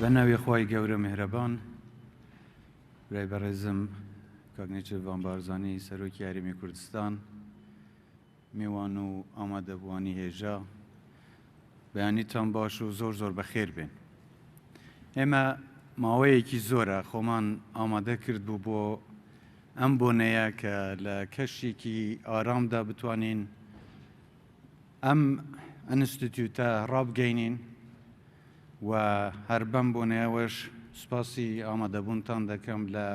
بەناوی خوای گەورە میهرەبان برای بەڕێزم کاک نێچیرڤان بارزانی سەرۆکی هەرێمی کوردستان میوان و ئامادەبووانی هێژا بەیانیتان باش و زۆر زۆر بەخێر بێن ئێمە ماوەیەکی زۆرە خۆمان ئامادە کرد بوو بۆ ئەم بۆنەیە کە لە کەشێکی ئارامدا بتوانین ئەم ئەنستتیوتە ڕابگەینین و هەر بەم بۆنەیەوەش سوپاسی ئامادەبوونتان دەکەم لە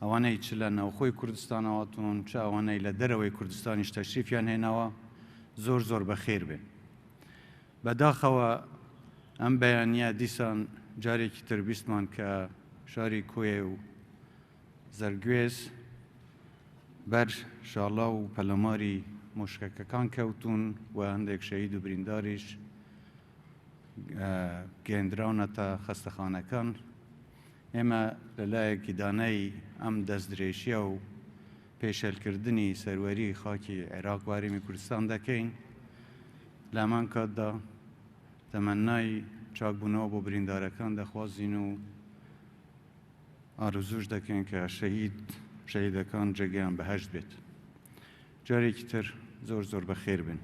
ئەوانەی چ لە ناوخۆی کوردستانەوەتون چ ئەوانەی لە دەرەوەی کوردستانیش تەشریفیان هێناوە زۆر زۆر بەخێر بێ بەداخەوە ئەم بەیانە دیسان جارێکی تربیستمان کە شاری کۆیە و زەرگوێز بەر شاڵاو و پەلاماری مووشەکەکان کەوتوون و هەندێک شەهید و برینداریش گەێندراونەتە خەستەخانەکان. ئێمە لە لایەکی دانای ئەم دەستدرێژیە و پێشێلکردنی سەروەری خاکی عێراق وارێمی کوردستان دەکەین لە هەمان کاتدا تەمەنای چاکبوونەوە بۆ بریندارەکان دەخوازین و ئارەزووش دەکەین کە شەهید شەهیدەکان جێگەیان بەهەشت بێت جارێکی تر زۆر زۆر بەخێر بن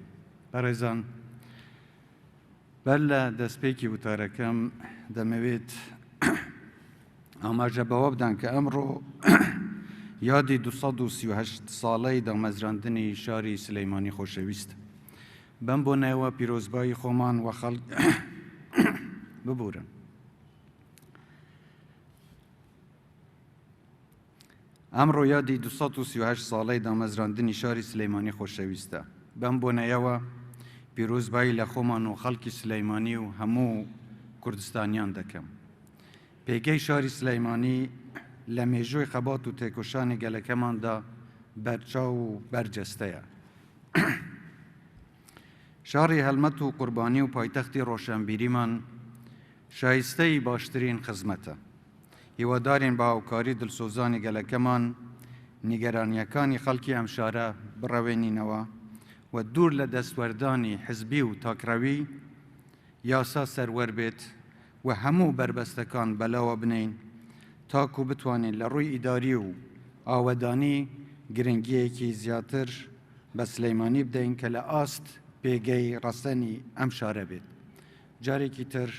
بەڕێزان بەر لە دەستپێکی وتارەکەم دەمەوێت ئاماژە بەوە بدەن کە ئەمڕۆ یادی 1970 ساڵەی دامەزراندنی شاری سلەیمانی خۆشەویست بەم بۆ نایوە پیرۆزبایی خۆمان وە خەڵک ببورن ئەمڕۆ یادی دو سەد و سی و هەشت ساڵەی دامەزراندنی شاری سلەیمانی خۆشەویستە، بەم بۆنەیەوە پیرۆزبایی لە خۆمان و خەڵکی سلەیمانی و هەموو کوردستانیان دەکەم. پێگەی شاری سلەیمانی لە مێژووی خەبات و تێکۆشانی گەلەکەماندا بەرچاو و بەرجەستەیە. شاری هەلمەت و قوربانی و پایتەختی ڕۆشەنبیریمان شایستەی باشترین خزمەتە. هیوادارین بە هاوکاری دلسۆزانی گەلەکەمان نیگەرانییەکانی خەڵکی ئەم شارە بڕەوێنینەوە و دوور لە دەستوەردانی حزبی و تاکڕەوی، یاسا سەروەر بێت و هەموو بەربەستەکان بەلاوە بنێین تاکو بتوانین لە ڕووی ئیداری و ئاوەدانی گرنگییەکی زیاتر بە سلیمانی بدەین کە لە ئاست پێگەی ڕەسەنی ئەم شارە بێت. جارێکی تر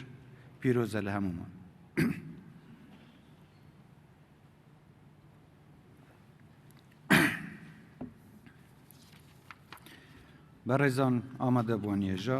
پیرۆزە لە هەموومان. بەڕێزان ئامادەبووان یەژا.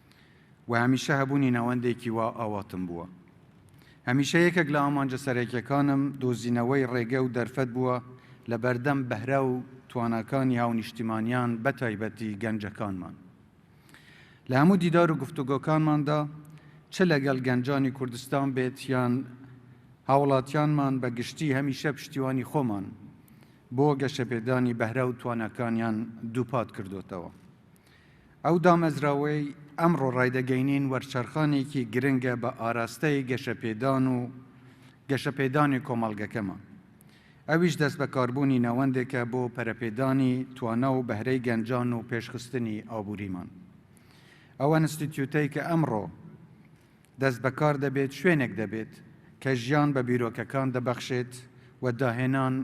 و هەمیشە هەبوونی ناوەندێکی وا ئاواتم بووە. هەمیشە یەکێک لە ئامانجە سەرەکیەکانم دۆزینەوەی ڕێگە و دەرفەت بووە لە بەردەم بەهرە و تواناکانی هاونیشتیمانیان بە تایبەتی گەنجەکانمان. لە هەموو دیدار و گفتوگۆکانماندا چ لەگەڵ گەنجانی کوردستان بێت یان هاوڵاتیانمان بە گشتی هەمیشە پشتیوانی خۆمان بۆ گەشەپێدانی بەهرە و تواناکانیان دووپات کردۆتەوە. ئەو دامەزراوەی ئەمڕۆ ڕایدەگەینین وەرچەرخانێکی گرنگە بە ئاراستەی گەشەپێدان و گەشەپێدانی کۆمەڵگەکەمان، ئەویش دەستبەکاربوونی ناوەندێکە بۆ پەرەپێدانی توانا و بەهرەی گەنجان و پێشخستنی ئابووریمان. ئەو ئەنستیتیوتەی کە ئەمڕۆ دەستبەکار دەبێت، شوێنێک دەبێت کە ژیان بە بیرۆکەکان دەبەخشێت و داهێنان،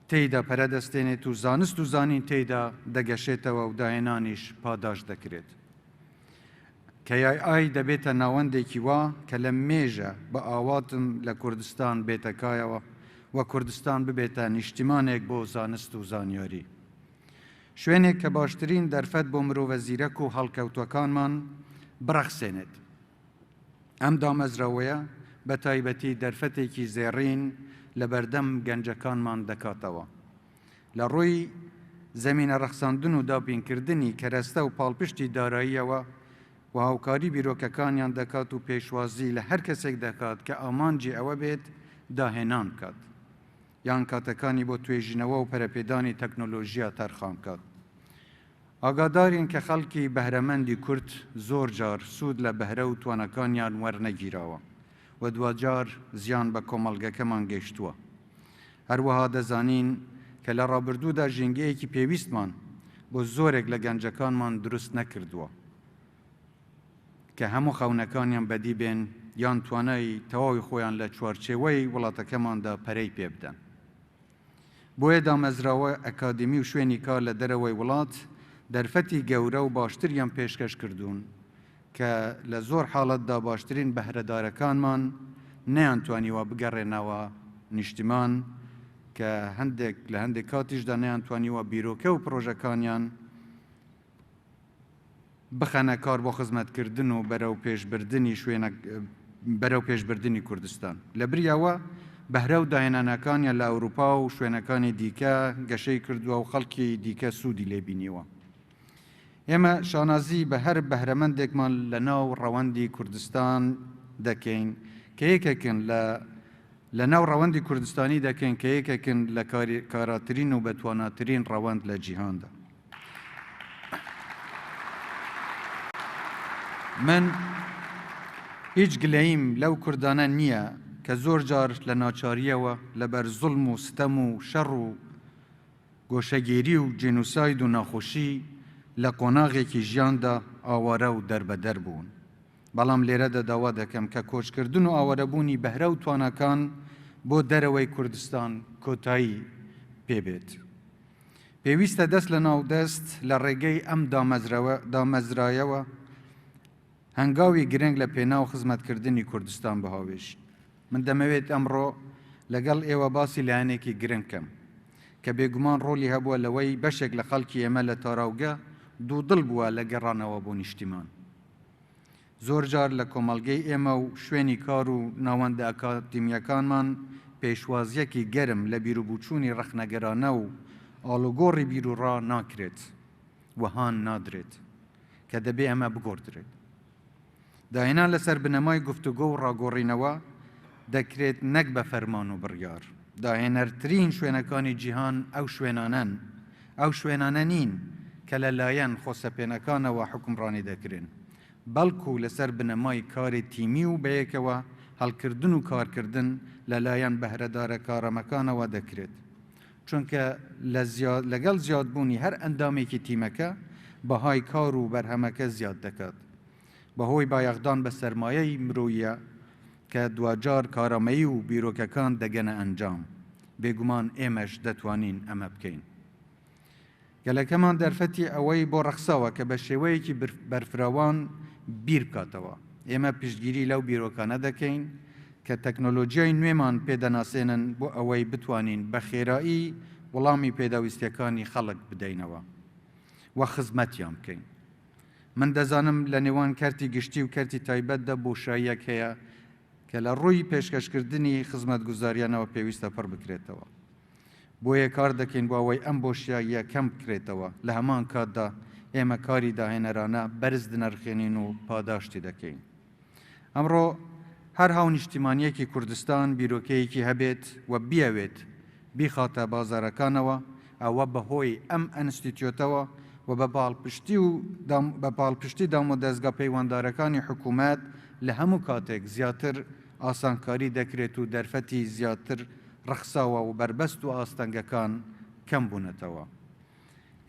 تێیدا پەرە دەستێنێت و زانست و زانین تێیدا دەگەشێتەوە و داهێنانیش پاداشت دەکرێت. KII دەبێتە ناوەندێکی وا کە لە مێژە بە ئاواتم لە کوردستان بێتە کایەوە و کوردستان ببێتە نیشتیمانێک بۆ زانست و زانیاری. شوێنێک کە باشترین دەرفەت بۆ مرۆڤە زیرەک و هەڵکەوتووەکانمان بڕەخسێنێت. ئەم دامەزراوەیە بە تایبەتی دەرفەتێکی زێڕین لە بەردەم گەنجەکانمان دەکاتەوە لە ڕووی زەمینە ڕەخساندن و دابینکردنی کەرەستە و پاڵپشتی داراییەوە و هاوکاری بیرۆکەکانیان دەکات و پێشوازی لە هەر کەسێک دەکات کە ئامانجی ئەوە بێت داهێنان بکات. یان کاتەکانی بۆ توێژینەوە و پەرەپێدانی تەکنۆلۆژیا تەرخان بکات. ئاگادارین کە خەڵکی بەهرەمەندی کورد زۆر جار سوود لە بەهرە و تواناکانیان وەرنەگیراوە و دواجار زیان بە کۆمەڵگەکەمان گەیشتووە. هەروەها دەزانین کە لە ڕابردوودا ژینگەیەکی پێویستمان بۆ زۆرێک لە گەنجەکانمان دروست نەکردووە. کە هەموو خەونەکانیان بەدی بێن یان توانای تەواوی خۆیان لە چوارچێوەی وڵاتەکەماندا پەرەی پێبدەن. بۆیە دامەزراوە ئەکادیمی و شوێنی کار لە دەرەوەی وڵات دەرفەتی گەورە و باشتریان پێشکەش کردوون کە لە زۆر حاڵەتدا باشترین بەهرەدارەکانمان نەیانتوانیوە بگەڕێنەوە نیشتمان کە هەندێک لە هەندێک کاتیشدا نەیانتوانیوە بیرۆکە و پڕۆژەکانیان بخەنە کار بۆ خزمەتکردن و بەرەو پێشبردنی شوێنە بەرەو پێشبردنی کوردستان لەبری ئەوە بەهرە و داهێنانەکانیان لە ئەوروپا و شوێنەکانی دیکە گەشەی کردووە و خەڵکی دیکە سوودی لێ بینیوە ئێمە شانازی بە هەر بەهرەمەندێکمان لە ناو ڕەوەندی کوردستان دەکەین کە یەکێکن لە لە ناو ڕەوەندی کوردستانی دەکەین کە یەکێکن لە کاراترین و بەتواناترین ڕەوەند لە جیهاندا من هیچ گلەییم لەو کوردانە نییە کە زۆر جار لە ناچارییەوە لە بەر زوڵم و ستەم و شەڕ و گۆشەگیری و جینوساید و ناخۆشی لە قۆناغێکی ژیاندا ئاوارە و دەربەدەر بوون، بەڵام لێرەدا داوا دەکەم کە کۆچکردن و ئاوارەبوونی بەهرە و تواناکان بۆ دەرەوەی کوردستان کۆتایی پێ بێت. پێویستە دەست لە ناو دەست لە ڕێگەی ئەم دامەزرایەوە هەنگاوی گرنگ لە پێناو خزمەتکردنی کوردستان بهاوێژین. من دەمەوێت ئەمڕۆ لەگەڵ ئێوە باسی لایەنێکی گرنگ بکەم کە بێگومان ڕۆڵی هەبووە لەوەی بەشێک لە خەڵکی ئێمە لە تاراوگە دوودڵ بووە لە گەڕانەوە بۆ نیشتیمان. زۆر جار لە کۆمەڵگەی ئێمە و شوێنی کار و ناوەندە ئەکادیمییەکانمان پێشوازییەکی گەرم لە بیروبووچوونی ڕەخنەگەرانە و ئاڵوگۆڕی بیروڕا ناکرێت و هان نادرێت کە دەبێ ئەمە بگۆڕدرێت. داهێنان لەسەر بنەمای گفتوگۆ و ڕاگۆڕینەوە دەکرێت نەک بە فەرمان و بڕیار. داهێنەرترین شوێنەکانی جیهان ئەو شوێنانەن، ئەو شوێنانە نین کە لەلایەن خۆسەپێنەکانەوە حوکمڕانی دەکرێن، بەڵکو لەسەر بنەمای کاری تیمی و بەیەکەوە هەڵکردن و کارکردن لەلایەن بەهرەدارە کارامەکانەوە دەکرێت، چونکە لەگەڵ زیادبوونی هەر ئەندامێکی تیمەکە بەهای کار و بەرهەمەکە زیاد دەکات، بەهۆی بایەخدان بە سەرمایەی مرۆییە کە دواجار کارامەیی و بیرۆکەکان دەگەنە ئەنجام، بێگومان ئێمەش دەتوانین ئەمە بکەین. گەلەکەمان دەرفەتی ئەوەی بۆ ڕەخساوە کە بە شێوەیەکی بەرفراوان بیر بکاتەوە. ئێمە پشتگیری لەو بیرۆکانە دەکەین کە تەکنۆلۆجیای نوێمان پێ دەناسێنن بۆ ئەوەی بتوانین بە خێرایی وڵامی پێداویستییەکانی خەڵک بدەینەوە و خزمەتیان بکەین. من دەزانم لە نێوان کەرتی گشتی و کەرتی تایبەتدا بۆشاییەک هەیە کە لە ڕووی پێشکەشکردنی خزمەتگوزارییانەوە پێویستە پڕ بکرێتەوە. بۆیە کار دەکەین بۆ ئەوەی ئەم بۆشاییە کەم بکرێتەوە، لە هەمان کاتدا ئێمە کاری داهێنەرانە بەرز دنرخێنین و پاداشتی دەکەین. ئەمڕۆ هەر هاونیشتیمانییەکی کوردستان بیرۆکەیەکی هەبێت و بیەوێت بیخاتە بازارەکانەوە، ئەوە بە هۆی ئەم ئەنستیتیۆتەوە و بە پاڵپشتی و بە پاڵپشتی دامودەزگا پەیوەندارەکانی حکوومەت لە هەموو کاتێک زیاتر ئاسانکاری دەکرێت و دەرفەتی زیاتر ڕەخساوە و بەربەست و ئاستەنگەکان کەم بوونەتەوە.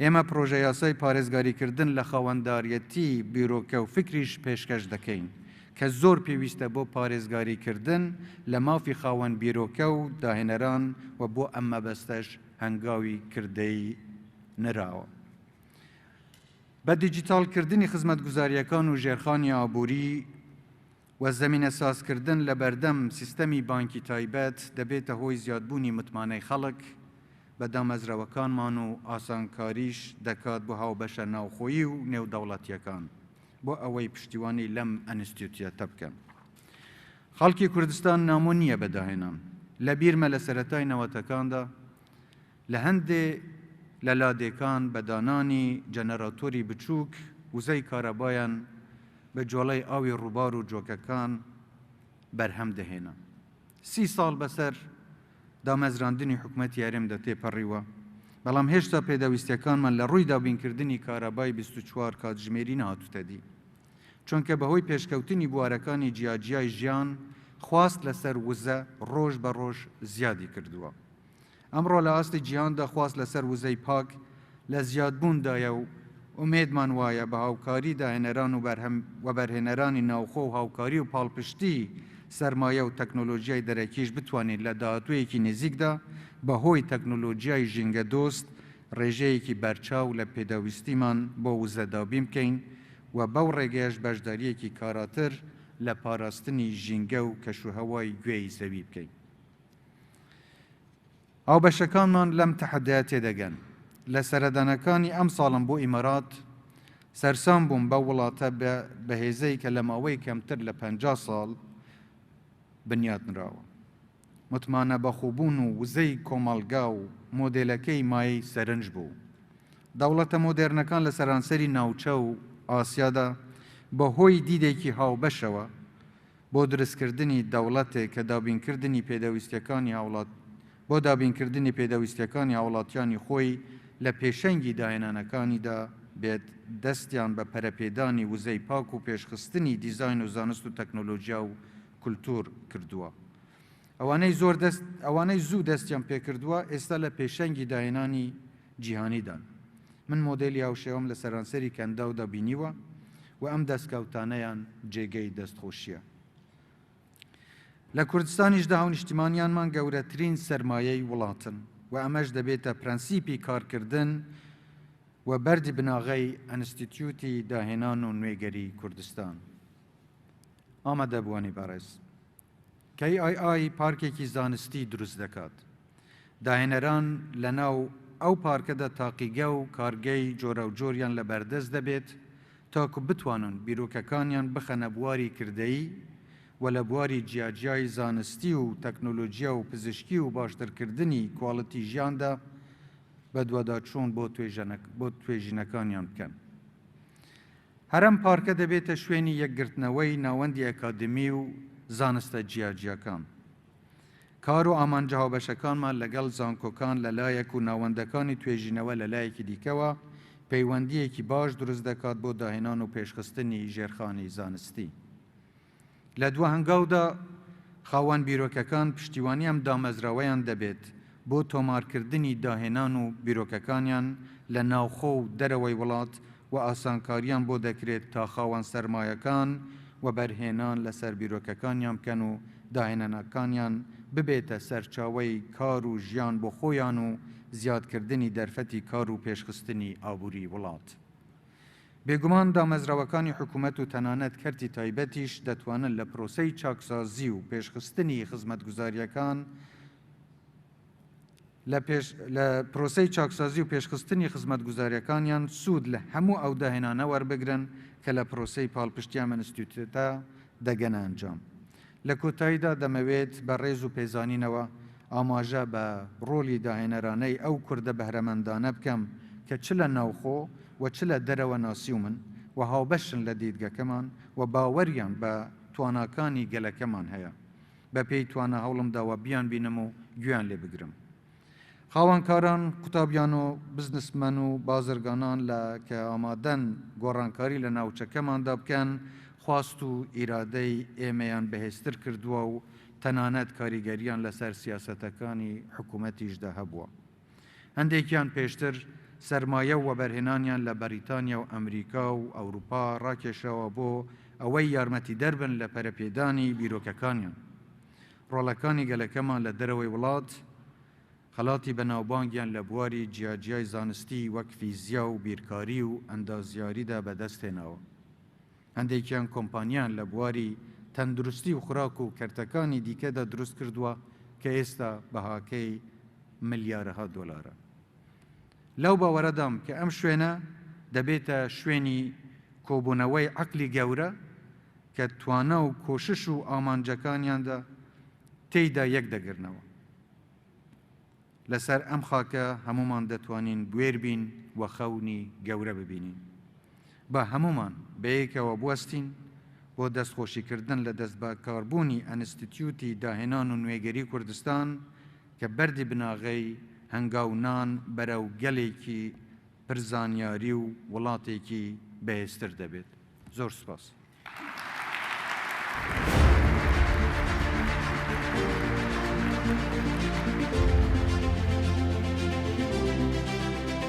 ئێمە پرۆژەیاسای پارێزگاریکردن لە خاوەنداریەتی بیرۆکە و فیکریش پێشکەش دەکەین کە زۆر پێویستە بۆ پارێزگاریکردن لە مافی خاوەن بیرۆکە و داهێنەران و بۆ ئەم مەبەستەش هەنگاوی کردەیی نراوە. بە دیجیتاڵکردنی خزمەتگوزارییەکان و ژێرخانی ئابووری، و زەمینەسازکردن لە بەردەم سیستەمی بانکی تایبەت دەبێتە هۆی زیادبوونی متمانەی خەڵک بە دامەزراوەکانمان و ئاسانکاریش دەکات بۆ هاوبەشە ناوخۆیی و نێودەوڵەتییەکان بۆ ئەوەی پشتیوانی لەم ئەنستیتوتە بکەن. خەڵکی کوردستان نامۆ نییە بە داهێنان. لەبیرمە لە سەرەتای نەوەتەکاندا، لە هەندێ لە لادێکان بە دانانی جەنەراتۆری بچووک وزەی کارەبایان بە جۆڵەی ئاوی ڕووبار و جۆکەکان بەرهەم دەهێنا. سی ساڵ بەسەر دامەزراندنی حکومەتی هەرێمدا تێپەڕیوە، بەڵام هێشتا پێداویستیەکانمان لە ڕووی دابینکردنی کارەبای بیست و چوار کاتژمێری نەهاتووتە دی. چونکە بەهۆی پێشکەوتنی بوارەکانی جیاجیای ژیان خواست لەسەر وزە ڕۆژ بە ڕۆژ زیادی کردووە. ئەمڕۆ لە ئاستی جیهاندا خواست لەسەر وزەی پاک لە زیادبووندایە و ئومێدمان وایە بە هاوکاری داهێنەران و وەبەرهێنەرانی ناوخۆ و هاوکاری و پاڵپشتی سەرمایە و تەکنۆلۆژیای دەرەکیش بتوانین لە داهاتوویەکی نزیکدا بە هۆی تەکنۆلۆژیای ژینگەدۆست ڕێژەیەکی بەرچاو لە پێداویستیمان بۆ وزە دابین بکەین و بەو ڕێگەیەش بەشدارییەکی کاراتر لە پاراستنی ژینگە و کەشوهەوای گوێی زەوی بکەین. هاوبەشەکانمان لەم تەحەدایە تێدەگەن. لە سەردانەکانی ئەمساڵم بۆ ئیمارات، سەرسام بووم بەو وڵاتە بەهێزەی کە لە ماوەی کەمتر لە پەنجا ساڵ بنیاتنراوە. متمانە بەخۆبوون و وزەی کۆمەڵگا و مۆدێلەکەی مایەی سەرنج بوو. دەوڵەتە مۆدێرنەکان لە سەرانسەری ناوچە و ئاسیادا بەهۆی دیدێکی هاوبەشەوە، بۆ دروستکردنی دەوڵەتێک کە دابینکردنی پێدەویستیەکانی هاوڵات بۆ دابینکردنی پێدەویستیەکانی هاوڵاتیانی خۆی لە پێشەنگی داهێنانەکانیدا بێت دەستیان بە پەرەپێدانی وزەی پاک و پێشخستنی دیزاین و زانست و تەکنۆلۆجیا و کولتوور کردووە. ئەوانەی زۆر دەست ئەوانەی زوو دەستیان پێکردووە ئێستا لە پێشەنگی داهێنانی جیهانیدان من مۆدێلی هاوشێوەم لە سەرانسەری کەنداودا بینیوە و ئەم دەستکەوتانەیان جێگەی دەستخۆشیە لە کوردستانیشدا هاونیشتیمانیانمان گەورەترین سەرمایەی وڵاتن و ئەمەش دەبێتە پرەنسیپی کارکردن و بەردی بناغەی ئەنستیتیوتی داهێنان و نوێگەری کوردستان ئامادەبووانی بەڕێز KII پارکێکی زانستی دروست دەکات، داهێنەران لەناو ئەو پارکەدا تاقیگە و کارگەی جۆراوجۆریان لە بەردەست دەبێت تاکو بتوانن بیرۆکەکانیان بخەنە بواری کردەیی و لە بواری جیاجیای زانستی و تەکنۆلۆجیا و پزیشکی و باشترکردنی کواڵیتی ژیاندا بەدواداچوون بۆ توێژینەکانیان بکەن. هەر ئەم پارکە دەبێتە شوێنی یەکگرتنەوەی ناوەندی ئەکادیمی و زانستە جیاجیاکان. کار و ئامانجە هاوبەشەکانمان لەگەڵ زانکۆکان لە لایەک و ناوەندەکانی توێژینەوە لە لایەکی دیکەوە، پەیوەندییەکی باش دروست دەکات بۆ داهێنان و پێشخستنی ژێرخانی زانستی. لە دوا هەنگاودا خاوەن بیرۆکەکان پشتیوانی ئەم دامەزراوەیان دەبێت بۆ تۆمارکردنی داهێنان و بیرۆکەکانیان لە ناوخۆ و دەرەوەی وڵات و ئاسانکارییان بۆ دەکرێت تا خاوەن سەرمایەکان وەبەرهێنان لەسەر بیرۆکەکانیان بکەن و داهێنانەکانیان ببێتە سەرچاوەی کار و ژیان بۆ خۆیان و زیادکردنی دەرفەتی کار و پێشخستنی ئابووری وڵات. بێگومان دامەزراوەکانی حکومەت و تەنانەت کەرتی تایبەتیش دەتوانن لە پرۆسەی چاکسازی و پێشخستنی خزمەتگوزارییەکان لە پێش لە پرۆسەی چاکسازی و پێشخستنی خزمەتگوزارییەکانیان سوود لە هەموو ئەو داهێنانە وەربگرن کە لە پرۆسەی پاڵپشتی ئەم ئینستیتووتە دەگەنە ئەنجام. لە کۆتاییدا دەمەوێت بە ڕێز و پێزانینەوە ئاماژە بە ڕۆڵی داهێنەرانەی ئەو کوردە بەهرەمەندانە بکەم کە چ لە ناوخۆ و چ لە دەرەوە ناسیومن و هاوبەشن لە دیدگەکەمان و باوەریان بە تواناکانی گەلەکەمان هەیە بەپێی توانا هەوڵمداوە بیانبینم و گوێیان لێ بگرم. خاوەنکاران قوتابیان و بزنسمەن و بازرگانان لە کە ئامادەن گۆڕانکاری لە ناوچەکەماندا بکەن، خواست و ئیرادەی ئێمەیان بەهێزتر کردووە و تەنانەت کاریگەرییان لەسەر سیاسەتەکانی حکوومەتیشدا هەبووە. هەندێکیان پێشتر سەرمایە و وەبەرهێنانیان لە بەریتانیا و ئەمریکا و ئەوروپا ڕاکێشاوە بۆ ئەوەی یارمەتیدەر بن لە پەرەپێدانی بیرۆکەکانیان. ڕۆڵەکانی گەلەکەمان لە دەرەوەی وڵات، خەڵاتی بەناوبانگیان لە بواری جیاجیای زانستی وەک فیزیا و بیرکاری و ئەندازیاریدا بەدەستهێناوە. هەندێکیان کۆمپانیایان لە بواری تەندروستی و خوراک و کەرتەکانی دیکەدا دروستکردووە کە ئێستا بەهاکەی ملیارەها دۆلارە. لەو باوەرەدام کە ئەم شوێنە دەبێتە شوێنی کۆبوونەوەی عەقڵی گەورە کە توانا و کۆشش و ئامانجەکانیاندا تێیدا یەک دەگرنەوە. لەسەر ئەم خاکە هەموومان دەتوانین بوێر بین و خەونی گەورە ببینین. با هەموومان بەیەکەوە بوەستین بۆ دەستخۆشیکردن لە دەستبەکاربوونی ئەنستتیوتی داهێنان و نوێگەری کوردستان، کە بەردی بناغەی هەنگاو نان بەرەو گەلێکی پر زانیاری و وڵاتێکی بەهێزتر دەبێت. زۆر سوپاس.